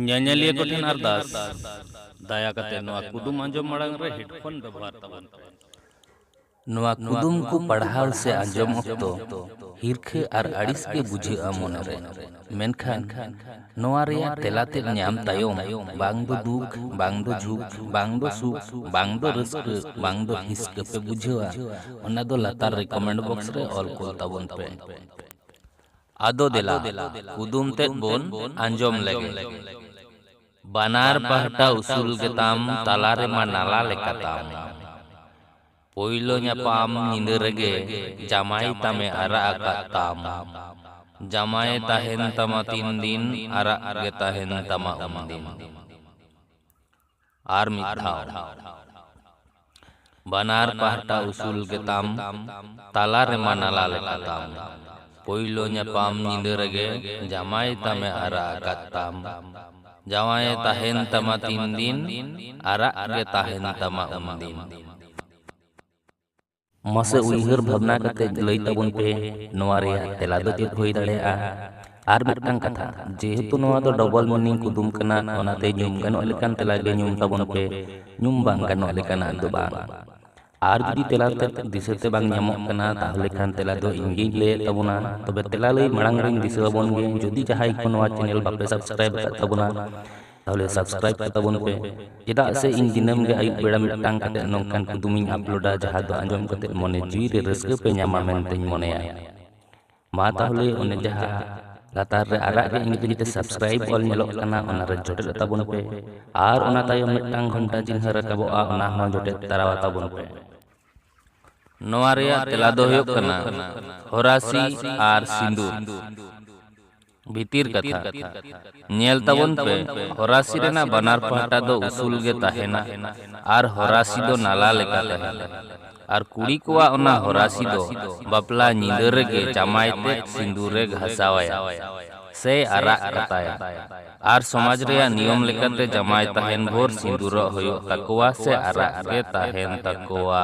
ᱧᱮᱧᱮᱞᱤᱭᱟᱹ ᱠᱚᱴᱷᱮᱱ ᱟᱨᱫᱟᱥ ᱫᱟᱭᱟ ᱠᱟᱛᱮ ᱱᱚᱣᱟ ᱠᱩᱫᱩᱢ ᱟᱸᱡᱚᱢ ᱢᱟᱲᱟᱝ ᱨᱮ ᱦᱮᱰᱯᱷᱳᱱ ᱵᱮᱵᱚᱦᱟᱨ ᱛᱟᱵᱚᱱ ᱯᱮ ᱱᱚᱣᱟ ᱠᱩᱫᱩᱢ ᱠᱚ ᱯᱟᱲᱦᱟᱣ ᱥᱮ ᱟᱸᱡᱚᱢ ᱚᱠᱛᱚ ᱦᱤᱨᱠᱷᱟᱹ ᱟᱨ ᱟᱹᱲᱤᱥ ᱜᱮ ᱵᱩᱡᱷᱟᱹᱜᱼᱟ ᱢᱚᱱᱮᱨᱮ ᱢᱮᱱᱠᱷᱟᱱ ᱱᱚᱣᱟ ᱨᱮᱭᱟᱜ ᱛᱮᱞᱟ ᱛᱮᱫ ᱧᱟᱢ ᱛᱟᱭᱚᱢ ᱵᱟᱝ ᱫᱚ ᱫᱩᱠ ᱵᱟᱝ ᱫᱚ ᱡᱷᱩᱠ ᱵᱟᱝ ᱫᱚ ᱥᱩᱠ ᱵᱟᱝ ᱫᱚ ᱨᱟᱹᱥᱠᱟᱹ ᱵᱟᱝ ᱫᱚ ᱦᱤᱥᱠᱟᱹ ᱯᱮ ᱵᱩᱡᱷᱟᱹᱣᱟ ᱚᱱᱟ ᱫᱚ ᱞᱟᱛᱟᱨ ᱨᱮ ᱠᱚᱢᱮᱱᱴ ᱵᱚᱠᱥ ᱨᱮ ᱚᱞ ᱠᱩᱞ ᱛᱟᱵᱚᱱ ᱯᱮ ᱟᱫᱚ ᱫᱮᱞᱟ ᱠᱩᱫᱩᱢ ᱛᱮᱫ ᱵᱚᱱ ᱟᱸᱡᱚᱢ ᱞᱮᱜᱮ᱾ ᱵᱟᱱᱟᱨ ᱯᱟᱦᱴᱟ ᱩᱥᱩᱞ ᱜᱮᱛᱟᱢ ᱛᱟᱞᱟ ᱨᱮᱢᱟ ᱱᱟᱞᱟ ᱞᱮᱠᱟ ᱛᱟᱢ᱾ ᱯᱳᱭᱞᱳ ᱧᱟᱯᱟᱢ ᱧᱤᱫᱟᱹ ᱨᱮᱜᱮ ᱡᱟᱢᱟᱭ ᱛᱟᱢᱮ ᱟᱨᱟᱜ ᱟᱠᱟᱫ ᱛᱟᱢ᱾ ᱡᱟᱢᱟᱭᱮ ᱛᱟᱦᱮᱸᱱ ᱛᱟᱢᱟ ᱛᱤᱱ ᱫᱤᱱ ᱟᱨᱟᱜ ᱜᱮ ᱛᱟᱦᱮᱸᱱ ᱛᱟᱢᱟ ᱩᱱ ᱫᱤᱱ᱾ ᱟᱨ ᱢᱤᱫ ᱫᱷᱟᱣ ᱵᱟᱱᱟᱨ ᱯᱟᱦᱴᱟ ᱩᱥᱩᱞ ᱜᱮᱛᱟᱢ ᱛᱟᱞᱟ ᱨᱮᱢᱟ ᱱᱟᱞᱟ ᱞᱮᱠᱟ ᱛᱟᱢ ᱯᱳᱭᱞᱳ ᱧᱟᱯᱟᱢ ᱧᱤᱫᱟᱹ ᱨᱮᱜᱮ ᱡᱟᱢᱟᱭ ᱛᱟᱢᱮ ᱟᱨᱟᱜ ᱟᱠᱟᱫ ᱛᱟᱢ ᱡᱟᱶᱟᱭᱮ ᱛᱟᱦᱮᱱ ᱛᱟᱢᱟ ᱛᱤᱱ ᱫᱤᱱ ᱟᱨᱟᱜ ᱜᱮ ᱛᱟᱦᱮᱱ ᱛᱟᱢᱟ ᱩᱱᱫᱤᱱ ᱢᱟᱥᱮ ᱩᱭᱦᱟᱹᱨ ᱵᱷᱟᱵᱽᱱᱟ ᱠᱟᱛᱮ ᱞᱟᱹᱭ ᱛᱟᱵᱚᱱ ᱯᱮ ᱱᱚᱣᱟ ᱨᱮᱭᱟᱜ ᱛᱮᱞᱟ ᱫᱚ ᱪᱮᱫ ᱦᱩᱭ ᱫᱟᱲᱮᱭᱟᱜᱼᱟ ᱟᱨ ᱢᱤᱫᱴᱟᱝ ᱠᱟᱛᱷᱟ ᱡᱮᱦᱮᱛᱩ ᱱᱚᱣᱟ ᱫᱚ ᱰᱚᱵᱚᱞ ᱢᱤᱱᱤᱝ ᱠᱩᱫᱩᱢ ᱠᱟᱱᱟ ᱚᱱᱟᱛᱮ ᱧᱩᱢ ᱜᱟᱱᱚᱜ ᱞᱮᱠᱟᱱ ᱛᱮᱞᱟ ᱜᱮ ᱧᱩᱢ ᱛᱟᱵᱚᱱ ᱯᱮ ᱧᱩᱢ ᱵᱟᱝ ᱜᱟᱱᱚᱜ ᱞᱮᱠᱟᱱᱟᱜ ᱫᱚ ᱵᱟᱝ ᱟᱨ ᱡᱩᱫᱤ ᱛᱮᱞᱟ ᱛᱮ ᱫᱤᱥᱟᱹ ᱛᱮ ᱵᱟᱝ ᱧᱟᱢᱚᱜ ᱠᱟᱱᱟ ᱛᱟᱦᱚᱞᱮ ᱠᱷᱟᱱ ᱛᱮᱞᱟ ᱫᱚ ᱤᱧ ᱜᱤᱧ ᱞᱟᱹᱭᱮᱫ ᱛᱟᱵᱚᱱᱟ ᱛᱚᱵᱮ ᱛᱮᱞᱟ ᱞᱟᱹᱭ ᱢᱟᱲᱟᱝ ᱨᱤᱧ ᱫᱤᱥᱟᱹ ᱟᱵᱚᱱ ᱜᱮ ᱡᱩᱫᱤ ᱡᱟᱦᱟᱸᱭ ᱠᱚ ᱱᱚᱣᱟ ᱪᱮᱱᱮᱞ ᱵᱟᱯᱮ ᱥᱟᱵᱥᱠᱨᱟᱭᱤᱵ ᱟᱠᱟᱫ ᱛᱟᱵᱚᱱᱟ ᱛᱟᱦᱚᱞᱮ ᱥᱟᱵᱥᱠᱨᱟᱭᱤᱵ ᱠᱚ ᱛᱟᱵᱚᱱ ᱯᱮ ᱪᱮᱫᱟᱜ ᱥᱮ ᱤᱧ ᱫᱤᱱᱟᱹᱢ ᱜᱮ ᱟᱹᱭᱩᱵ ᱵᱮᱲᱟ ᱢᱤᱫᱴᱟᱝ ᱠᱟᱛᱮ ᱱᱚᱝᱠᱟᱱ ᱠᱩᱫᱩᱢᱤᱧ ᱟᱯᱞᱳᱰᱟ ᱡᱟᱦᱟᱸ ᱫᱚ ᱟᱸᱡᱚᱢ ᱠᱟᱛᱮ ᱢᱚᱱᱮ ᱡᱤᱣᱤ ᱨᱮ ᱨᱟᱹᱥᱠᱟᱹ ᱯᱮ ᱧᱟᱢᱟ ᱢᱮᱱᱛᱮᱧ ᱢᱚᱱᱮᱭᱟ ᱢᱟ ᱛᱟᱦᱚᱞᱮ ᱚᱱᱮ ᱡᱟᱦᱟᱸ ᱞᱟᱛᱟᱨ ᱨᱮ ᱟᱨᱟᱜ ᱜᱮ ᱤᱝᱨᱮᱡᱤ ᱛᱮ ᱥᱟᱵᱥᱠᱨᱟᱭᱤᱵ ᱚᱞ ᱧᱮᱞᱚᱜ ᱠᱟᱱᱟ ᱚᱱᱟ ᱨᱮ ᱡᱚᱴᱮᱫ ᱛᱟᱵᱚᱱ ᱯᱮ ᱟᱨ ᱚᱱᱟ ᱛᱟᱭᱚᱢ ᱢᱤᱫᱴᱟᱝ ᱜᱷᱚᱱᱴᱟ ᱪᱤᱱᱦᱟᱹ ᱨᱟᱠᱟᱵᱚᱜᱼᱟ ᱚᱱᱟ ᱦᱚᱸ ᱡᱚᱴᱮᱫ ᱛᱟᱨᱟᱣᱟ ᱛᱟᱵᱚᱱ ᱯᱮ ᱱᱚᱣᱟ ᱨᱮᱭᱟᱜ ᱛᱮᱞᱟ ᱫᱚ ᱦᱩᱭᱩᱜ ᱠᱟᱱᱟ ᱦᱚᱨᱟᱥᱤ ᱟᱨ ᱥᱤᱸᱫᱩᱨ ᱵᱷᱤᱛᱤᱨ ᱠᱟᱛᱷᱟ, ᱧᱮᱞ ᱛᱟᱵᱚᱱ ᱯᱮ ᱦᱚᱨᱟᱥᱤ ᱨᱮᱱᱟᱜ ᱵᱟᱱᱟᱨ ᱯᱟᱦᱴᱟ ᱫᱚ ᱩᱥᱩᱞ ᱜᱮ ᱛᱟᱦᱮᱸᱱᱟ ᱟᱨ ᱦᱚᱨᱟᱥᱤ ᱫᱚ ᱱᱟᱞᱟ ᱞᱮᱠᱟ ᱛᱟᱦᱮᱸᱱᱟ᱾ ᱟᱨ ᱠᱩᱲᱤ ᱠᱚᱣᱟᱜ ᱚᱱᱟ ᱦᱚᱨᱟᱥᱤ ᱫᱚ ᱵᱟᱯᱞᱟ ᱧᱤᱫᱟᱹ ᱨᱮᱜᱮ ᱡᱟᱢᱟᱭ ᱛᱮᱫ ᱥᱤᱸᱫᱩᱨᱮ ᱜᱷᱟᱥᱟᱣ ᱟᱭᱟ ᱥᱮᱭ ᱟᱨᱟᱜ ᱠᱟᱛᱟᱭᱟ᱾ ᱟᱨ ᱥᱚᱢᱟᱡᱽ ᱨᱮᱭᱟᱜ ᱱᱤᱭᱚᱢ ᱞᱮᱠᱟᱛᱮ ᱡᱟᱢᱟᱭ ᱛᱟᱦᱮᱸᱱ ᱵᱷᱳᱨ ᱥᱤᱸᱫᱩᱨᱚᱜ ᱦᱳᱭᱳᱜ ᱛᱟᱠᱚᱣᱟ ᱥᱮ ᱟᱨᱟᱜ ᱜᱮ ᱛᱟᱦᱮᱸᱱ ᱛᱟᱠᱚᱣᱟ᱾